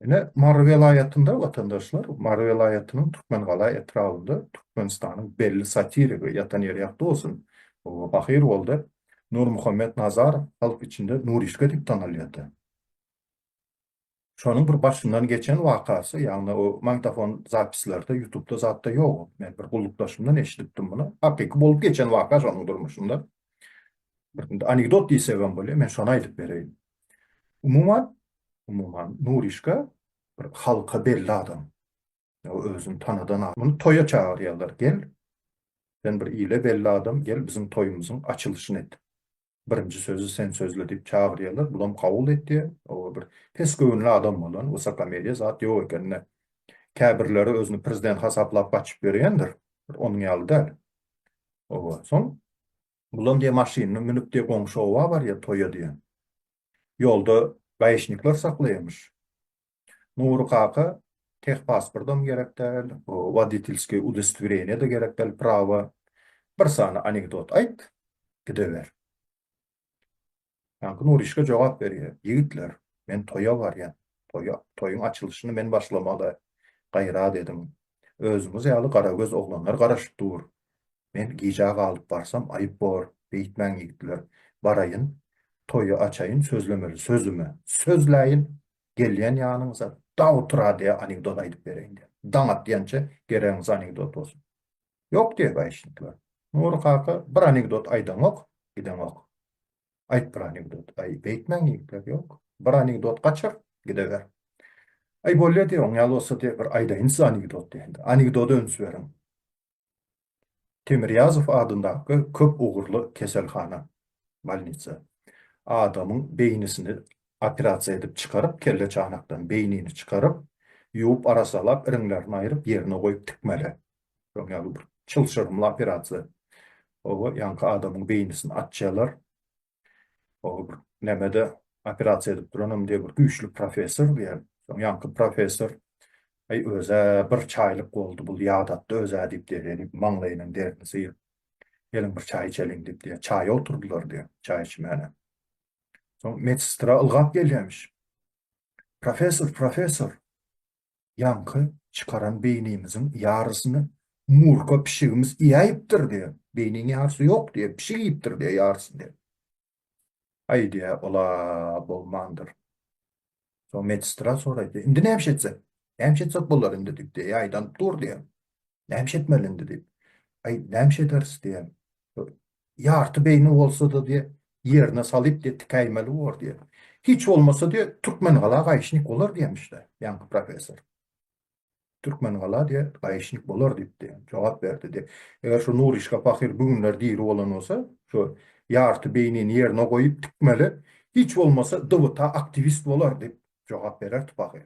Ine, Mary welaýatynda, watandaşlar, Mary welaýatynyň Türkmengala etrabynda Türkmenistanyň belli satirigi, ýatan ýeri ýagty bolsun, pahyr boldy, Nurmuhammet Nazarow halk içinde Nurişka diýip tanalýardy. Şonuň bir başyndan geçen wakasy, ýagny o magnitofon zapislerde, ýutubda zatda ýok ol. Men bir gullukdaşymdan eşidipdim muny. Hakyky bolup geçen waka şonuň durmuşynda. Bir anekdot diýsegem bolýar, men şony aýdyp bereýin. Umuman, umuman, Nuryşka bir halka belli adam. Ýa özüni tanadan a. Muny toýa çagyrýarlar, gel, sen bir ile belli adam, gel, biziň toýumyzyň açylyşyny et. Birinji sözi sen sözle diýip çagyrýarlar, bulam kabul etýär. Oba bir pes göwünli adam bolan, wysokomeriýa zat ýok eken-de. Käbirleri özüni prezident hasaplap gaçyp ýöreýändir, bir onuň ýaly däl. Oba, soň Bulam diýýär maşynyna münüp diýýär goňşy oba barýar toýa diýýär. Ýolda gaýyşnikler saklaýarmyş. Nury kaka tehpasportam gerek däl, woditilskiý udostwireniýe-de gerek däl, prawa. Bir sany anekdot aýt, gideber. Ýaňky Nurişka jogap berýär, Ýigitler, men toýa barýan. Toýa, toýuň açylyşyny men başlamaly. Gaýrat ediň. Özüňiz ýaly garagöz oglanlar garaşyp dur. Men gijä galyp barsam aýyp bor. Beýtmäň ýigitler. Baraýyn, toýy açaýyn, sözlemeli sözümi. Sözläýin. Gelýän ýanyňyza dagy turadýa anekdot aýdyp bereýin diýen. Daň atýança geregiňiz anekdot bolsun. Ýok diýe gaýyşdylar. Nury kaka bir anekdot aýdaňok, gideňok. Aýt bir anekdot. Aý, beýtmäň ýigitler, ýok. Bir anekdot gaçyr, gideber. Aý, bolýa diýe, oň ýaly bolsa diýe, bir aýdaýyn size anekdot diýe indi. Anekdoda üns beriň. Temirýazow adyndaky köp ugurly keselhana, bolnisa, adamyň beýnisini operasiýa edip çykaryp, kelle çanakdan beýnini çykaryp, ýuwup-arasalap, iriňlerini aýryp, ýerine goýup tikmeli. Şoň ýaly bir çylşyrymly operasiýa. Oba ýaňky adamyň beýnisini açýarlar. Oba bir nämede operasiýa edip duranam diýe bir güýçli professor diýýär. Şoň ýaňky professor Aý özä bir çaýlyk boldy bul ýadatdy özä diýip diýýär. Maňlaýynyň derini syýyp. Geliň bir çaý içeliň diýip diýýär. Çaýa oturdylar diýýär. Çaý içmäne. Soň medsestra ylgap gelýämiş. Professor, professor. Ýaňky çykaran beýnimiziň ýarysyny Murka pişigimiz iýäýipdir diýýär. Beýniniň ýarysy ýok diýýär, pişik iýipdir diýýär ýarysyny. Aý diýýär, ol-a bolmandyr. Soň medsestra soraýar, Indi näme etsek? Näme etsek bolar indi diýip, Ýaýdanyp dur diýýär. Nämiş etmeli indi diýip. Aý, nämiş ederis diýen. Ýarty beýni bolsa-da diýe, ýerine salyp diýe tikäýmeli bor diýe. Hiç bolmasa diýe, Türkmengala gaýyşnik bolar diýemiş-de, ýaňky professor. Türkmengala diýe, gaýyşnik bolar diýip diýe, jogap berdi diýe. Eger şu Nuryşka pahyr bu günler diri bolan bolsa, şu ýarty beýnini ýerine goýup tikmeli, hiç bolmasa DWTA aktiwist bolar diýip jogap bererdi pahyr.